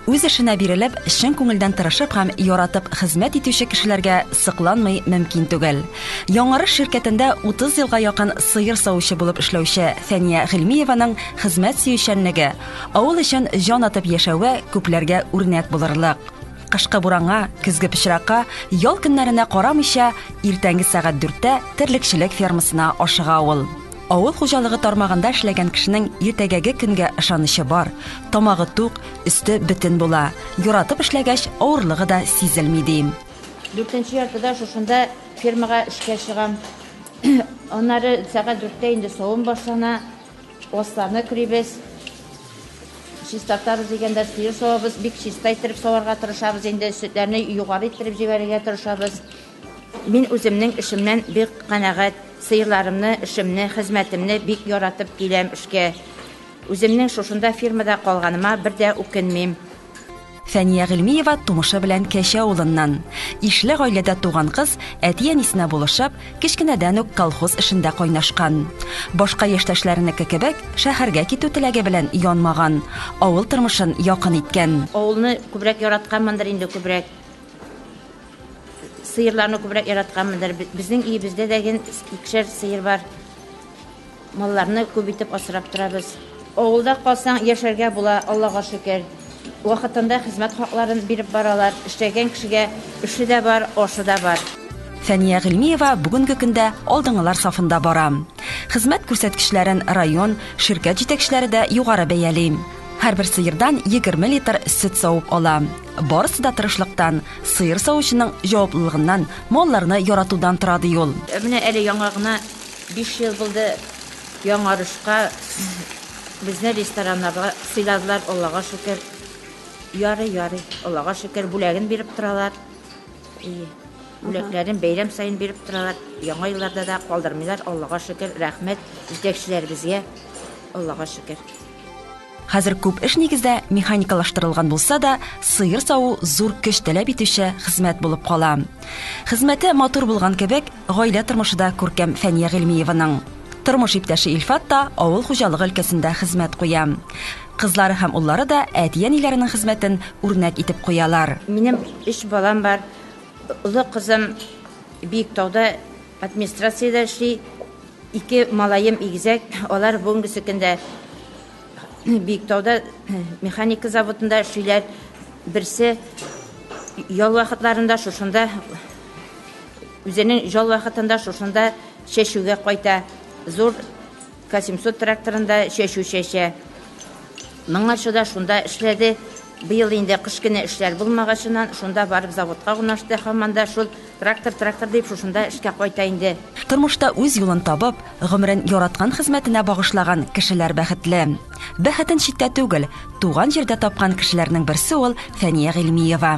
үз эшенә бирелеп чын күңелдән тырышып һәм яратып хезмәт итүче кешеләргә сыкланмый мөмкин түгел яңарыш ширкәтендә 30 елга якын сыер савучы булып эшләүче фәния гыйльмиеваның хезмәт сөючәнлеге авыл өчен җан атып яшәве күпләргә үрнәк булырлык кышкы буранга көзге пычракка ял көннәренә карамыйча иртәнге сәгать дүрттә терлекчелек фермасына ашыга ул Авыл хуҗалыгы тармагында эшләгән кешенең иртәгәге көнгә ышанычы бар, тамагы тук, өсте бөтен була. Яратып эшләгәч, авырлыгы да сизелми, ди. Дүртенче яртыда шушында фермага эшкә чыгам. Аннары сәгать дүрттә инде савым башлана. Асларны көрибез. Чистартабыз дигәндә сыер савабыз. Бик чиста иттереп саварга тырышабыз инде. Сөтләрне югары иттереп җибәрергә тырышабыз. Мин үземнең эшемнән бик канәгать, сыерларымны, эшемне, хезмәтемне бик яратып киләм эшкә. Үземнең шушында фирмада калганыма бер дә үкенмим. Фәния Гыйльмиева тумышы белән Кәче авылыннан. Ишле гаиләдә туган кыз, әти-әнисенә булышып, кечкенәдән үк колхоз эшендә кайнашкан. Башка яшьтәшләренеке кебек, шәһәргә китү теләге белән янмаган, авыл тормышын якын иткән. Авылны күбрәк яратканмындыр инде, күбрәк. Сыерларны күбрәк яратканмындыр. Безнең өебездә дә ген икешәр сыер бар. Малларны күп итеп асрап торабыз. Авылда калсаң, яшәргә була, Аллага шөкер. Вакытында хезмәт хакларын биреп баралар. Эшләгән кешегә эше дә бар, ашы да бар. Фәния Гыйльмиева бүгенге көндә алдынгылар сафында бара. Хезмәт күрсәткечләрен район, ширкәт җитәкчеләре дә югары бәяли. Һәрбер сыердан егерме литр сөт савып ала. Барысы да тырышлыктан, сыер савучының җаваплылыгыннан, малларны яратудан тора ди ул. Ә менә әле яңа гына 5 ел булды яңарышка безне рестораннарга сыйладылар, Аллага шөкер. Ярый, ярый, Аллага шөкер, бүләген биреп торалар. И, бүләкләрен бәйрәм саен биреп торалар. Яңа елларда да калдырмыйлар, Аллага шөкер, рәхмәт җитәкчеләребезгә, Аллага шөкер. Хәзер күп эш нигездә механикалаштырылган булса да, сыер саву зур көч таләп итүче хезмәт булып кала. Хезмәте матур булган кебек, гаилә тормышы да күркәм Фәния Гыйльмиеваның. Тормыш иптәше Илфат та авыл хуҗалыгы өлкәсендә хезмәт куя. Кызлары һәм уллары да әти-әниләренең хезмәтен үрнәк итеп куялар. Минем өч балам бар. Олы кызым Биектауда администрациядә эшли. Ике малаем игезәк, алар бүгенгесе көндә Биектауда механика заводында эшлиләр. Берсе ял вакытларында шушында үзенең ял вакытында шушында чәчүгә кайта. Зур К700 тракторында чәчү чәчә. Моңарчы да шунда эшләде. Быел инде кыш көне эшләр булмагачыннан, шунда барып заводка урнашты, һаман да шул трактор, трактор дип шушында эшкә кайта инде. Тормышта үз юлын табып, гомерен яраткан хезмәтенә багышлаган кешеләр бәхетле. Бәхетен читтә түгел, туган җирдә тапкан кешеләрнең берсе ул Фәния Гыйльмиева.